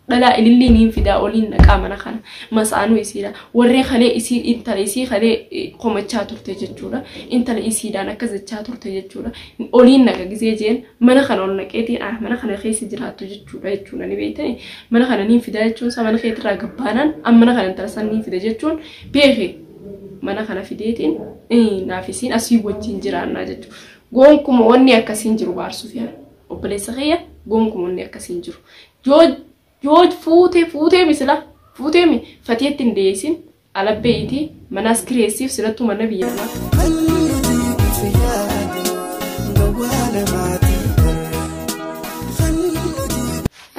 dhalaa ilillii niin fidaa oliin dhaqaa mana kana masaanuu isiidha warree kalee isii intala isii kalee komachaa turte jechuudha intala isiidhaan akka jechaa turte jechuudha oliin naqa gisee jeen mana kana ol naqeetiin ah mana kana keessa jiraattu jechuudha jechuudha ni beektani mana kana niin fidaa jechuun isaa mana keetirraa gabbaanaan amma mana kana intala san niin fida jechuun beeke mana kana fideetiin naaf isiin asii wajjin jiraannaa jechuudha goonkuma wanni akkasiin jiru baarsuuf yaala. Obboleessa kiyya gonkuma wanni akkasii hin jiru. Yoo yoo fuutee fuutee misila fuutee mi fatiyetti hin deessin alabbee itii manaas kireessiif silattuu mana biyya namaa.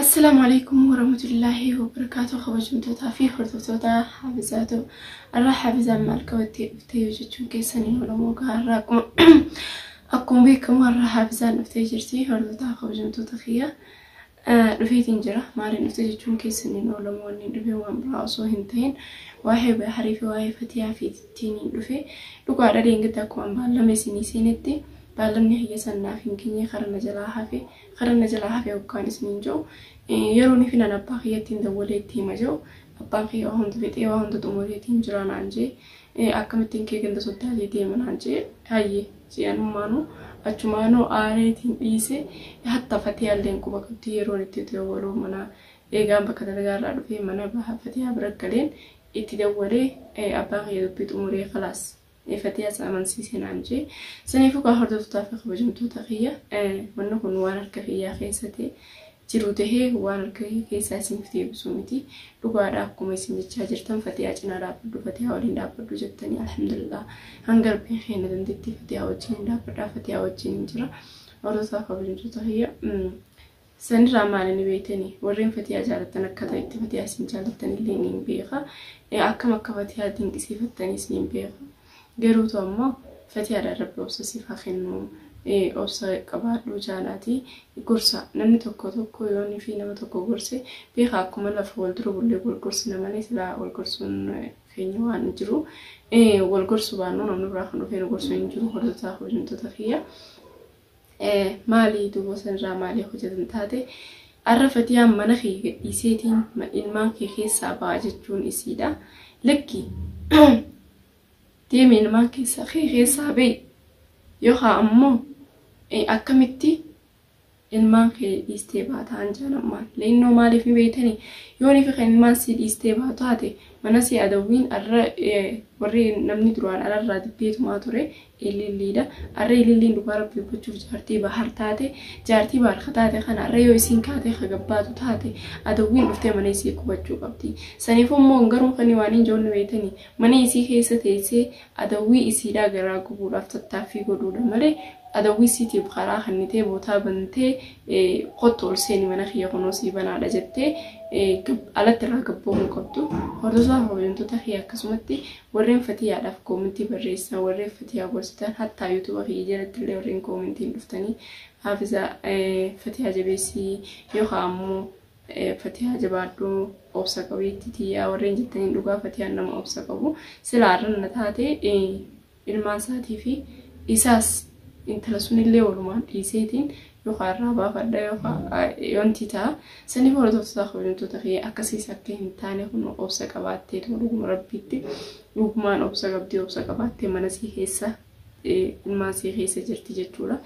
Assalaamu alaikum warahmatullaahi wabarakaatu kabajamtootaa fi hordoftoota hafizaatu irraa hafizaan maal qabattee dhuftee yoo jechuun keessanii oromoo gaarraa akkuma Akkuma beekamu har'a Haafizaan dhuftee jirti. Hordotaa kabajamtoota kiyya dhufeetiin jira. Maaliin dhufte jechuun keessan hin oolamu wanni hin dhufe waan biraa osoo hin ta'in waa'ee Baharii fi waa'ee Fatiyaa fi ittiin hin dhufe. Dhugaadha deengatti akkuma baallama isinii seenetti baallamni hayya sannaaf hin geenye karaa na jalaa hafe karaa na jalaa hafe hoggaan isiniin jiru yeroon fi nan abbaa kiyyattiin dawwalee itti hima jiru abbaan kiyya waa hunda fixee waa hunda xumureetiin jira naan jee Ee akkamittiin kee ganda soddaatii deema naan jee hayyee jee anummaanuu achumaanuu aareetiin dhiise hatta fatiyaalleen quba qabdi yeroon itti itti dawwaluu mana eegaan bakka dalagaarraa dhufee mana baha fatiyaa bira galeen itti dawwalee ee abbaan kiyya dubbii xumuree kalaas ee fatiyaas amansiise naan jee saniifuu kaa hordoftotaa fi kabajamtoota kiyya ee wanni kun waan harka kiyyaa keessa ta'e jiru tahee waalgahii keessaa isiniif deebisuu miti. Dhugaadha akkuma isin jechaa jirtan fatiyaa cinaa dhaabbadhu fatiyaa waliin dhaabbadhu jettanii alhamdulillah hanga rabbiin keenya dandeettii fatiyaa wajjin hin dhaabbadhaa fatiyaa wajjin hin jira. Warroota kabajamtoota kiyya sanirraa maali ni beektanii warreen fatiyaa jaallattan akka ta'e itti fatiyaa isin jaallattan illee ni beeka akkam akka fatiyaa dinqisiifattanis ni beeka. Garuu too ammoo fatiyaadhaan rabbi obsa siif haa kennu obsa qabaadhu jaalaati gorsa namni tokko tokko yoon fi nama tokko gorse beeka akkuma lafa wal dura bullee wal gorsina malee silaa wal gorsuun keenya waan hin jiru wal gorsu baannuu namni biraa kan dhufee nu gorsu hin jiru hordoftoota hojjetoota kiyya. Maali duuba sanirraa maali hojjetan taate arra fatiyaan mana kee gadhiiseetiin ilmaan kee keessaa ba'a jechuun isiidha. Lakki deemi ilmaan keessaa kee keessaa ba'i yookaan ammoo akkamitti ilmaan kee dhiistee baataan jaanammaan leennoo maaliif ni beeytani yoonii fi kan ilmaan sii dhiistee baatu taate mana sii adawwiin arra warri namni duraan alarraa diddeetumaa ture ililliidha. Arra ililliin dhugaa rabbi dubbachuuf jaartii bahar taate jaartii bahar ka taate kana arra yoo isiin kaatee ka gabbaatu taate adawwiin dhuftee mana isii qubachuu qabdi. Saniif ammoo garuu kani waan hin joonne beeytani mana isii keessa teessee adawwii isiidhaa garaa gubuudhaaf tattaaffii godhuudha malee adawwii isiitiif karaa kannitee bootaa bantee kottu ol seeni mana kiyya kunoo sii banaadha jettee alatti irraa gabboomuu qabdu. Hordofaa hojjantota kiyya akkasumatti Warreen fatiyaadhaaf koomentii barreessan warreen fatiyaa gorsitan hattaa yuutuba kiyya jalatti illee warreen koomentiin dhuftanii haafiza fatiyaa jabeessii yookaan ammoo fatiyaa jabaadhu obsa qabeetti tiyyaa warreen jettaniin dhugaa fatiyaan nama obsa qabu silaa arran na taate ilmaan isaatii fi isaas intala sunillee walumaan dhiiseetiin yookaan irraa baafadha yookaan yoontii ta'a. Sanii hordoftoota kabajamtoota kiyya akkasiis akka hin taane kun obsa qabaattee tuma dhuguma rabbiitti dhugumaan obsa qabdii obsa qabaattee mana sii keessa ilmaan sii keessa jirti jechuudha.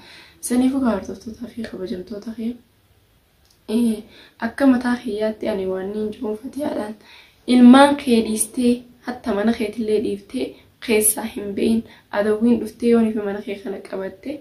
Saniifuu kan hordoftootaa fi kabajamtoota kiyya akka mataa kiyyaatti ani waan niin jiruun fatiyaadhaan ilmaan kee dhiistee hatta mana keetillee dhiiftee keessaa hin be'in adawwiin dhuftee yoonii fi mana kee kana qabatte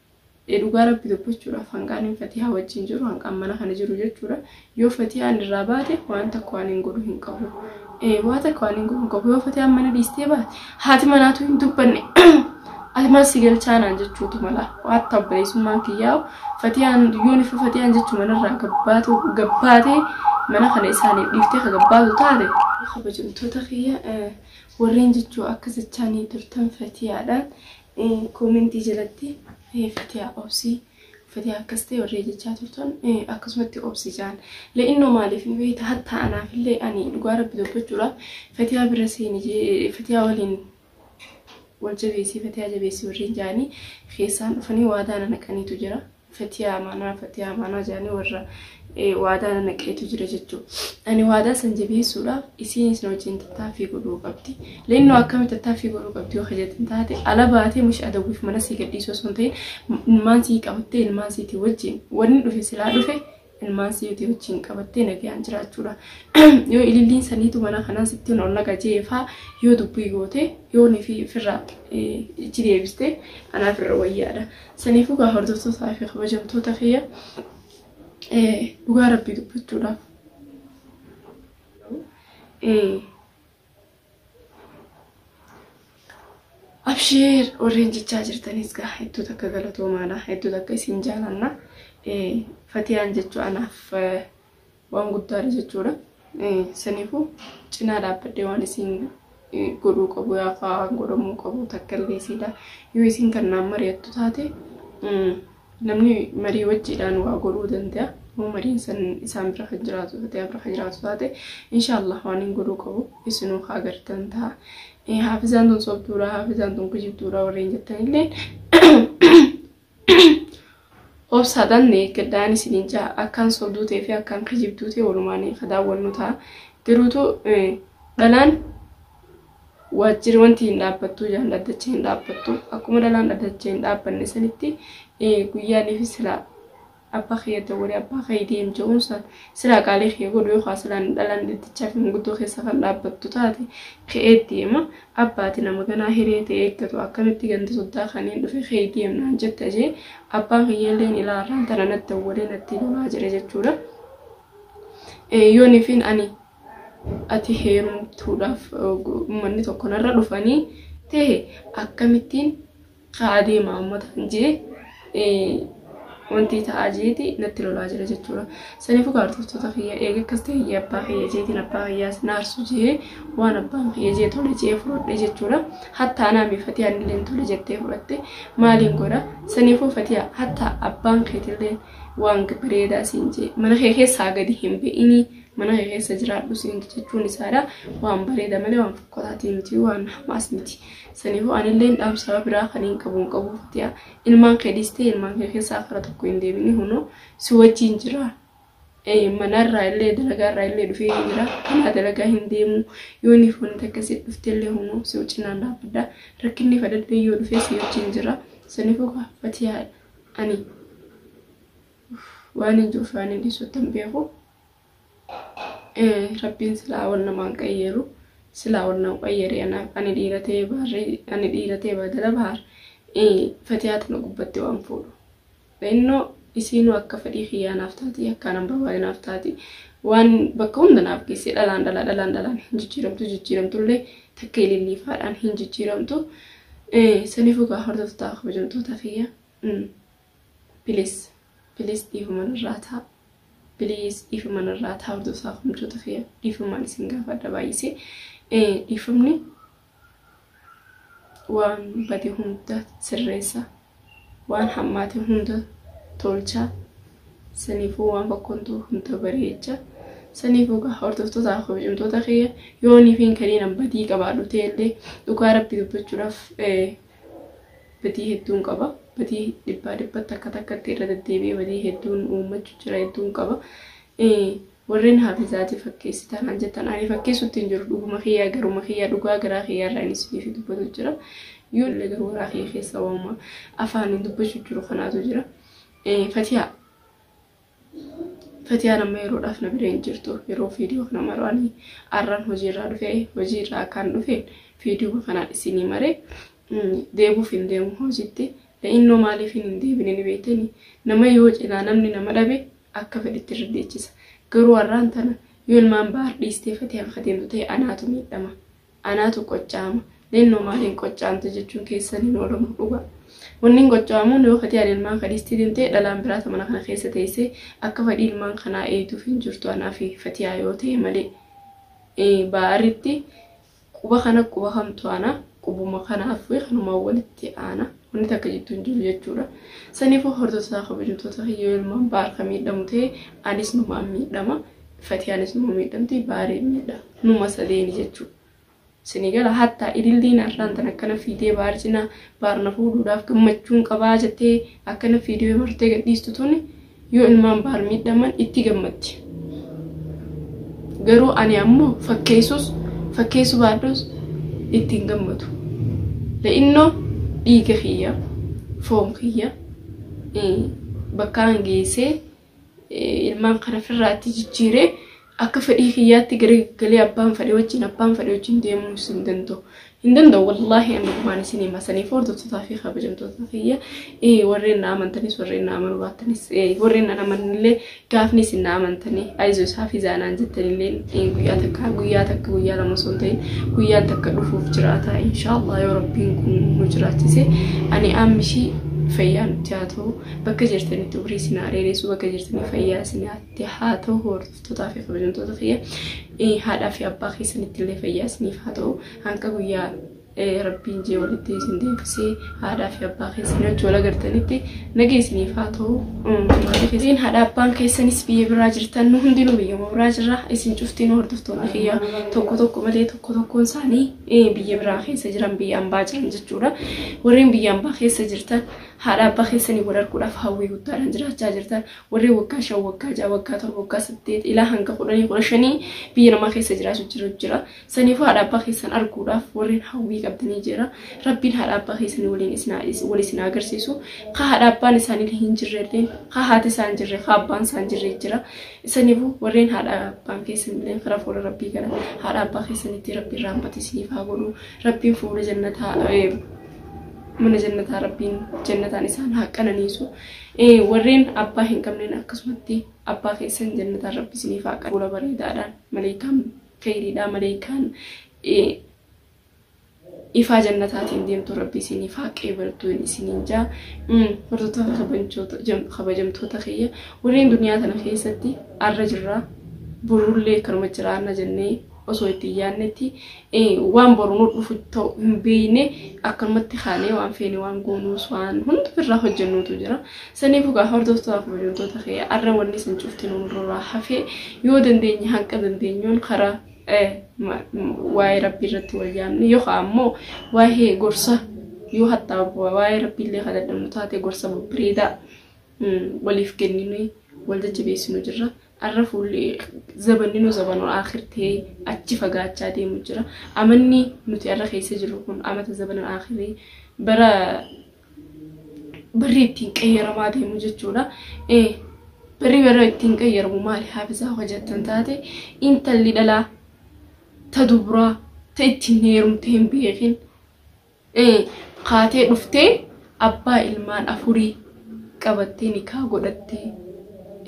Ee dhugaa rabbi dubbachuudhaaf hanqaan hin fatihaa wajjin jiru hanqaan mana kana jiru jechuudha yoo fatiyaan irraa baate waan takka waan hin godhu hin qabu ee waa takka waan hin godhu hin qabu yoo fatiyaan mana dhiistee baate haati manaatu hin dubbanne ati mana si galchaanaan jechuutu mala waan tabbareessummaan kiyyaa fatiyaan yoo nifa fatiyaan jechuu manarraa gabbaatu gabbaatee mana kana isaaniif dhiiftee ka gabbaatu taate kabajamtoota kiyya warreen jechuu akka jechaanii turtan fatiyaadhaan Koomentii jalatti fatiyaa obsi fatiyaa akkas ta'e warree jechaa turtan akkasumatti obsi jaan le'innoo maaliif ni beekta hatta anaaf illee ani dhugaa rabbi dubbachuudhaaf fatiyaa bira seeni fatiyaa waliin wal jabeessii fatiyaa jabeessii warreen jaanii keessaan dhufanii waadaa na naqaniitu jira fatiyaa amaanaa fatiyaa amaanaa jedhanii warra waadaa na naqeetu jira jechuudha. Ani waadaa san jabeessuudhaaf isiin isin wajjin tattaaffii godhuu qabdi. Leennoo akkamitti tattaaffii godhuu qabdi yoo hojjetan taate ala baatee mushi adawwiif mana sii gadhiisuu osoo hin ta'in ilmaan sii qabattee ilmaan siitii wajjin wanni dhufe silaa dhufe ilmaan si yotii wajjin qabattee nagayaan jiraachuudha. Yoo ililliin saniitu mana kanaa sitti hin ollaga jeefaa yoo dubbii goote yoo nifi firra ichi deebiste anaa firra wayyaadha. Saniifuu gaa hordoftootaa fi kabajamtoota kiyya dhugaa rabbii dubbachuudhaaf. Abshiir warreen jechaa jirtanis gaa hedduu takka galatoomaadha. Hedduu takka isin jaalanna. Fatiyaan jechuu anaaf waan guddaadha jechuudha. Saniifuu cinaa dhaabbadhee waan isin godhuu qabu yaafaa godhamuu qabu takka illee isiidha. Yoo isin kan naan mari'attu taate Namni marii wajjiidhaan waa godhuu danda'a. Yoo mariin san isaan bira kan jiraatu taate, yaa bira kan jiraatu taate, inshaallah waan hin godhuu qabu isinuu haa gartan ta'a. Eh, Haafizaan tun sobduudha, haafizaan tun kijibduudha warreen jettan illee obsaadhaan na eeggadhaan isiniin ja'a. Akkaan sobduu ta'ee fi akkaan kijibduu ta'e walumaan ka daawwannu ta'a. Garuutu eh, dhalaan Waajjiri wanti hin dhaabbattu jaan dhaddacha hin dhaabbattu akkuma dhalaan dhaddacha hin dhaabbanne sanitti guyyaaniif silaa abbaa kiyya dawwalee abbaa kiyya deem jedhuun san silaa qaalii kiyya godhu yookaan silaa dhalaan dhaddachaa fi manguddoo keessa kan dhaabbattu taate ka'ee deema abbaati nama ganaa hiree ta'e eeggatu akkamitti ganda soddaa kanneen dhufe ka'ee deemnaan jette jee abbaan kiyya illee ilaa irraan tana natti dawwalee natti lolaa jira jechuudha. Yoonifiin ani ati heerumtuudhaaf ummanni tokko narra dhufanii ta'e akkamittiin ka'aa deema ummata kan jee wanti ta'aa jeeti natti lolaa jira jechuudha. Saniif egaa hordoftoota kiyya eega akkas ta'e abbaa kiyya jeetiin abbaa kiyyaas naarsu jee waan abbaan kiyya jee tole jee fudhadhe jechuudha. Hattaa naamii fatii anillee tole jettee fudhatte maaliin godha saniifuu fatii hattaa abbaan keetillee waan bareedaa siin jee mana kee keessaa gadi hin be'inii mana kee keessa jiraadhu siin jechuun isaadha waan bareeda malee waan fokkotaatii miti waan hamaas miti saniifuu anillee dhaamsaa biraa kan hin qabu hin qabu fatiyaa ilmaan kee dhiistee ilmaan kee keessaa kara tokko hin deebini hunoo si wajjin jira manarraa illee dalagaarraa illee dhufee hin jira kanaa dalagaa hin deemu yoo inni foon takka si dhuftee illee hunoo si wajjinaan dhaabbadha rakkinni fadadhee yoo dhufee si wajjin jira saniifuu fatiyaa ani waan hin jiru faanii dhiisuu tan beeku. rabbiin silaa wan namaan qayyeeru silaa wan nama qayyeere anaaf ani dhiira ta'ee baarri ani dhiira ta'ee baadala baar fatiyaa tana gubbatti waan fuudhu innoo isiinuu akka fedhii kiyyaa naaf taati akka anan barbaade naaf taati waan bakka hunda naaf geesse dhalaan dhalaa dhalaan dhalaan hin jijjiiramtu jijjiiramtullee takka ililliifaadhaan hin jijjiiramtu saniifuu kaa hordoftaa kabajamtoota kiyya Pilis Pilis dhiifama narraa taa Please dhiifama narraa taa hordofaa komchoota kiyya dhiifamaan isin gaafadha baay'isee dhiifamni waan bade hunda sirreessa waan hammaate hunda tolcha saniifuu waan fakkontuu hunda bareecha saniifuu gaa hordoftoota kabajamtoota kiyya yoonii fi hin kaniinan badii qabaadhu ta'ellee dhugaa rabbi dubbachuudhaaf badii hedduun qaba. Badii dhibbaa dhibbatti akka takkatti irra deddeebi'ee badii hedduun uummachu jira hedduun qaba. Warreen haafizaati fakkeessi taanaan jettan ani fakkeessutti hin jiru dhuguma kiyyaa garuma kiyyaa dhugaa garaa kiyyaa irraa inni isiniif dubbatu jira. Yoo illee garuu garaa kiyya keessa waamuma afaaniin dubbachuu jiru kanaatu jira. Fatiyaa Fatiyaan amma yeroodhaaf na bira hin jirtu. Yeroo viidiyoo kana maruu ani arran hojiirraa dhufe. Hojiirraa akkaan dhufeen viidiyoo kanaan isinii maree deebuuf hin deemu hojiitti. Innoo maaliif hin deebine ni beektani. Nama yoo cinaa namni nama dhabe akka fedhitti irra deechisa. Garuu arraan tana yoo ilmaan baar dhiistee fatiyaan ka deemtu ta'e anaatu miidhama. Anaatu qocha'ama. Leennoo maal hin qocha'amte jechuun keessan hin oolamu dhugaa. Wanni hin qocha'amuun yoo fatiyaan ilmaan ka dhistii demtee dhalaan biraa ta mana kana keessa teessee akka fadhii ilmaan kanaa eeyduuf hin jirtu anaa fi fatiyaa yoo ta'e malee. Baa'aritti quba kana quba kamtu aana qubuma kanaaf kanumaan walitti aana wanni takka jidduu hin jiru jechuudha. Saniifuu hordoftoota kabajamtoota kiyyoo ilmaan baar ka miidhamu ta'e anis numaan miidhama. Fatiyaanis numa miidhamti baaree miidha numa sadeeni jechuu sini gala hatta ililliin arraan tan akkana fiidee baar cina baar na fuudhuudhaaf gammachuun qabaa jettee akkana fiidee martee gadhiistu tuni yoo ilmaan baar miidhaman itti gammaddi garuu ani ammoo fakkeessus fakkeessu baadhus ittiin gammadu la'innoo dhiiga kiyya foon kiyya bakkaan geessee ilmaan kana firraatti jijjiiree akka fedhii kiyyaatti gara galee abbaan fedhe wajjin abbaan fedhe wajjin deemuu isin danda'u. Hin danda'u wallaahi amma gumaan isin hima saniif hordoftotaa fi kabajamtoota kiyya warreen na amantanis warreen na amanuu baattanis warreen na amanillee gaafni isin na amantanii ayizoo isaa fi zaanaan jettanillee guyyaa takka guyyaa takka guyyaa lama osoo hin ta'in guyyaan takka dhufuuf jiraata inshaallah yoo rabbiin kun nu jiraachise ani ammishii fayyaa nutti haa ta'u. Bakka jirtanitti umrii isin haa dheeressu bakka jirtanii fayyaa isin haa ta'u hordoftotaa fi kabajamtoota kiyya Eh, haadhaa fi abbaa keessanitti illee fayyaa isiniif haa ta'u hanga guyyaa eh, rabbiin jee walitti isin deebisee haadhaa fi abbaa keessanii wajjin wal agartanitti nagaa isiniif haa ta'u Mm, maatii keessaniin haadha abbaan keessanis biyya biraa jirtan nu hundinuu biyyuma biraa jirra isin cuftiin hordoftoonni kiyya tokko tokko malee tokko tokkoon isaanii eh, biyya biraa keessa jiran biyya ambaa jiran jechuudha warreen biyya ambaa keessa jirtan Haadha abbaa keessanii wal arguudhaaf hawwii guddaadhaan jiraachaa jirtan. Warri waggaa shan, waggaa ja'a, waggaa torba, waggaa saddeet ilaa hanga kudhanii kudha shanii biyya namaa keessa jiraatu jiru jira. Saniifuu haadha abbaa keessan arguudhaaf warreen hawwii qabdanii jira. Rabbiin haadha abbaa keessanii waliin isin haa dhiisu, wal isin haa agarsiisu. Ka haadha abbaan isaanii hin jirre illee, ka haati isaa hin jirre, ka abbaan isaa hin jirre jira. Saniifuu warreen haadha abbaan keessan illee karaa fuula rabbii kana haadha abbaa keessanitti rabbiin rahmata isiniif haa godhu. Rabbiin fuula jannataa eh, mana jannataa rabbiin jannataan isaan haa qananiisu warreen abbaa hin qabneen akkasumatti abbaa keessan jannataan rabbi isiniif haa qananiisu fuula bareedaadhaan maleekaan kheyriidhaa maleekaan ifaa jannataatiin deemtu rabbi isiniif haa qeebaltu isiniin jaa hordoftoota kabajamtoota kiyya warreen duniyaa tana keessatti arra jirraa borullee kanuma jiraanna jennee osoo itti hin yaadnetti waan boru nu dhufu ta'u hin beekne akkanumatti kaanee waan feene waan goonuus waan hunda birraa hojjennuutu jira. Saniifuu gaa hordoftoota kabajamtoota kee arra wanni san cufti nurraa hafee yoo dandeenye hanqa dandeenyuun karaa waa'ee rabbii irratti wal yaamne yookaan ammoo waa'ee gorsa yoo hattaa waa'ee rabbiillee kadhadhamu taate gorsa babbareedaa waliif kenninee wal jajjabeessinu jirra. Arra fuulli zabanninuu zabanul aakhir ta'ee achi fagaachaa deemu jira. Amanni nuti arra keessa jirru kun amata zabanul aakhirii bara barri ittiin qayyaramaa deemu jechuudha. Eh, Barri bara ittiin qayyaramu maali haafisaa hoo jettan taate intalli dhalaa ta dubraa ta ittiin heerumte hin beekin ee kaatee dhuftee abbaa ilmaan afurii qabattee nikaa godhattee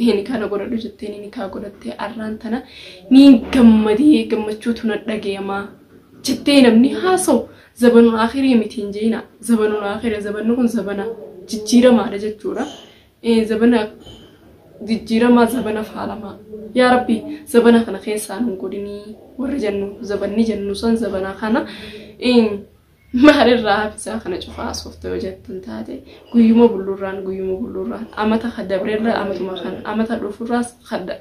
ee nikaa na godhadhu jettee ni nikaa godhattee arraan tana niin gammadee gammachuutu na dhagayamaa jettee namni haasa'u zabanul aakhirii miti hin je'ina zabanul aakhira zabanni kun zabana jijjiiramaadha jechuudha ee zabana jijjiiramaa zabana faalamaa yaa rabbi zabana kana keessaa nun godhinii warri jennu zabanni jennu san zabana kana in maalirraa hafisaa kana cufaa asofta yoo jettan taate guyyuma bulluurraan guyyuma bulluurraan amata ka dabrerra amatuma kan amata dhufurraas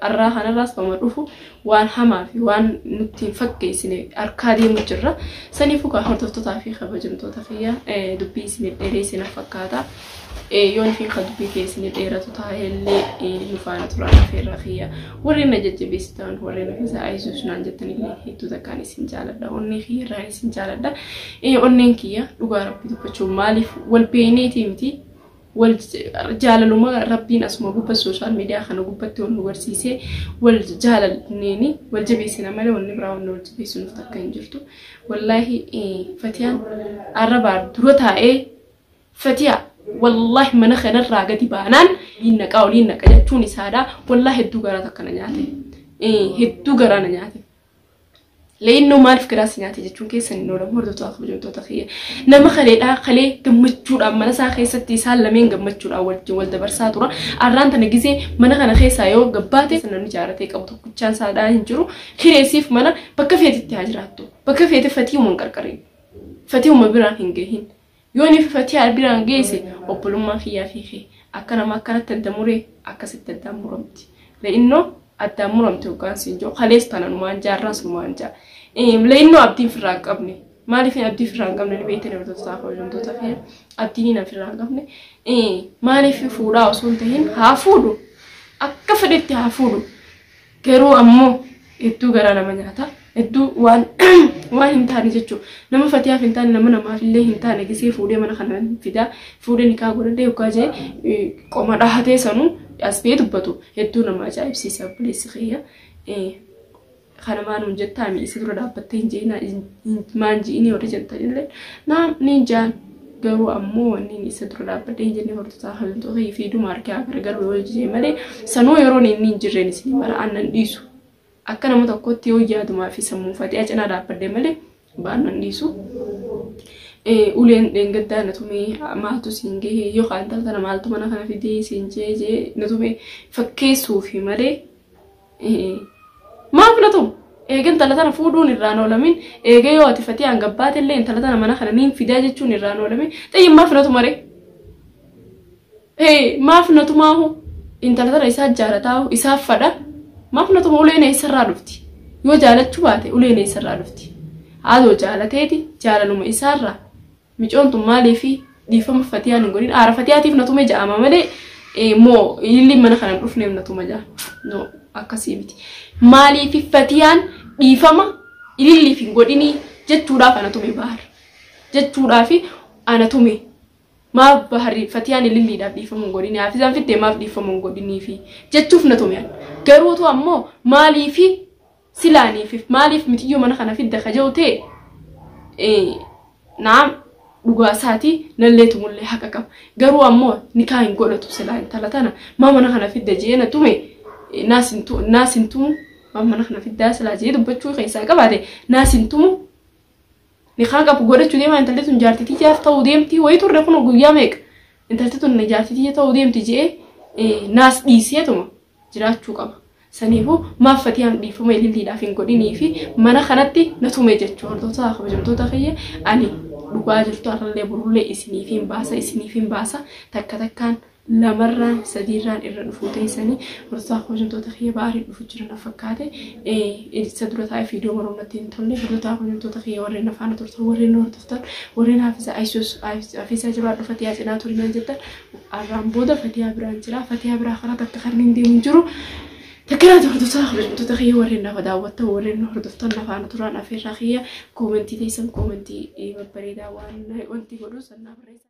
arraa kanarraas kama dhufu waan hamaa fi waan nutti hin fakkeessine harkaa deemu jirra. Saniifuu kaa hordoftootaa fi kabajamtoota kiyya dubbii isiniif dheereessina fakkaata. Yoon fi kan dubbii kee isinii dheeratu taa'ellee nu faana turaa dhufeerra kiyya. Warreen na jajjabeessitan warreen of isaa ayisuus naan jettan illee hedduu takkaan isin jaaladha. Onnee kiyya irraa isin jaaladha. Onneen kiyya dhugaa rabbii dubbachuu maaliif wal beeyneetii miti wal jaalaluma rabbiin asuma gubba sooshaal miidiyaa kana gubbatti wal nu barsiisee wal jaalalneeni wal jabeessina malee wanni biraa wanni wal jabeessinuuf takka hin jirtu. Wallaahi fatiyaan arrabaa dura taa'ee fatiyaa wallaahi mana kanarraa gadi baanaan hin naqaa olii hin naqa jechuun isaadha. Wallaahi hedduu garaa takka na nyaate. Hedduu garaa na nyaate. Leennoo maaliif garaa si nyaate jechuun keessan hin oolamu hordoftoota fi hojjettoota kiyya. Nama kaleedhaa kalee gammachuudhaan mana isaa keessatti isaan lameen gammachuudhaan wajjin wal dabarsaa tura. Arraan tana gisee mana kana keessaa yoo gabbaate namni jaaratee qabu tokkichaan saadhaa hin jiru. Kireessiif mana bakka feetitti haa jiraattu. Bakka feete fatiiwuma hin qarqarin. Fatiiwuma biraan hin gahin. Yooni fi fatiyaa albiraan geese obbolummaan kiyyaa fi kee akka nama akkanatti adda muree akkasitti addaan muramti le'inno addaan muramte hoggaan siin jiru kalees tananumaan jaa arraas numaan jaa le'inno abdiin firraa hin qabne maaliifin abdii firraa hin qabne ni beektanii hordoftotaa koo hojjamtoota kee abdiin hin firraa hin qabne maaliif fuudhaa osoo hin tahin haa fuudhu akka fedhetti haa fuudhu Garuu ammoo hedduu garaa nama nyaata. Hedduu waan waan hin taane jechuudha. Nama fatiyaaf hin taane nama namaaf illee hin taane gisee fuudhee mana kana fidaa fuudhee nikaa godhadhee yookaan jee eh, qoma dhahatee sanuu as ba'ee dubbatu hedduu nama ajaa'ibsiisa obboleessi kiyya. Eh, kana maan hin jettaa mi'eessi dura dhaabbattee hin jeenaa hin maan ji'inii warri jettan illee naam ni jaan garuu ammoo wanni inni isa dura dhaabbadhee hin jenne hordotaa hawwintoo fi fiiduma harkee haa gargaru yoo jijee malee sanuu yeroon inni hin jirreen isin mara aannan dhiisu akka nama tokkotti yoo yaadumaa fi sammuu faxiyaa cinaa dhaabbadhee malee baannan dhiisu. Uleen dheengaddaa na tumee maaltu siin gahee yoo kaan tana maaltu mana kana fidee siin jee jee na tumee fakkeessuufi malee Maa filatu? Eega intala tana fuudhuun irraan oolamin eega yoo ati fatiyaan gabbaate illee intala tana mana kana niin fidaa jechuun irraan oolamin xiyyin maa filatu maree? Hee maa filatu maahu? Intala tana isaa jaalataahu isaaf fadha maa filatu maa uleen eessarraa dhufti? Yoo jaalachuu baate uleen eessarraa dhufti? Haadhoo jaalateeti jaalaluma isaarraa Micoon tun maaliifi dhiifama fatiyaan hin godhin aara fatiyaatiif na tume ja'ama malee eh, moo ililliin mana kana hin dhufneef na tuma ja'a no akkasii miti maaliifi fatiyaan dhiifama ililliif hin godhinii jechuudhaaf ana tume bahar jechuudhaaf ana tume maaf baharri fatiyaan ililliidhaaf dhiifama hin godhinii haafizaan fittee maaf dhiifama hin godhinii fi jechuuf na tume ani. garuu too ammoo maaliifi silaaniifif maaliif miciyyoo mana kana fidda ka jehu ta'e naam dhugaa isaati nallee tumullee haqa qaba garuu ammoo nikaa hin godhatu silaa intala tana maa mana kana fidda jee na tume naas hin tumu maa mana kana fiddaa silaa jee dubbachuu keessaa qabaate naas hin tumu nikaan qabu godhachuu deemaa intalli tun jaartitii jaaf ta'uu deemti wayii turre kun guyyaa meeqa intalli tun jaartitii ta'uu deemti jee naas dhiiseetuma jiraachuu qaba. Saniifu maaf fatiyaan dhiifama ililliidhaaf hin godhinii fi mana kanatti na tume jechuu hordoftoota kabajamtoota kiyya ani dhugaa jirtu har'allee burullee isiniif hin baasa isiniif hin baasa takka takkaan lamarraan sadiirraan irra dhufuu teessanii hordoftoota kabajamtoota kiyya baariin dhufu jira na fakkaate isa dura taa'ee fiidiyoo maruun natti hin tolle hordoftoota kabajamtoota kiyya warreen afaana turtan warreen hordoftan warreen haafisa ayisuus haafisa jabaa dhufate yaa cinaa turinaan jettan Arraan booda fatiyaa biraan jira. Fatiyaa biraa kana takka kan hin deemu jiru. Takkeeraati hordoftoota kabajamtoota kiyya warreen nafa daawwattan warreen nu hordoftan nafaana turaan afeerraa kiyya koomentii teessan koomentii babbareedaa waan wanti godhu sannaa barreessa.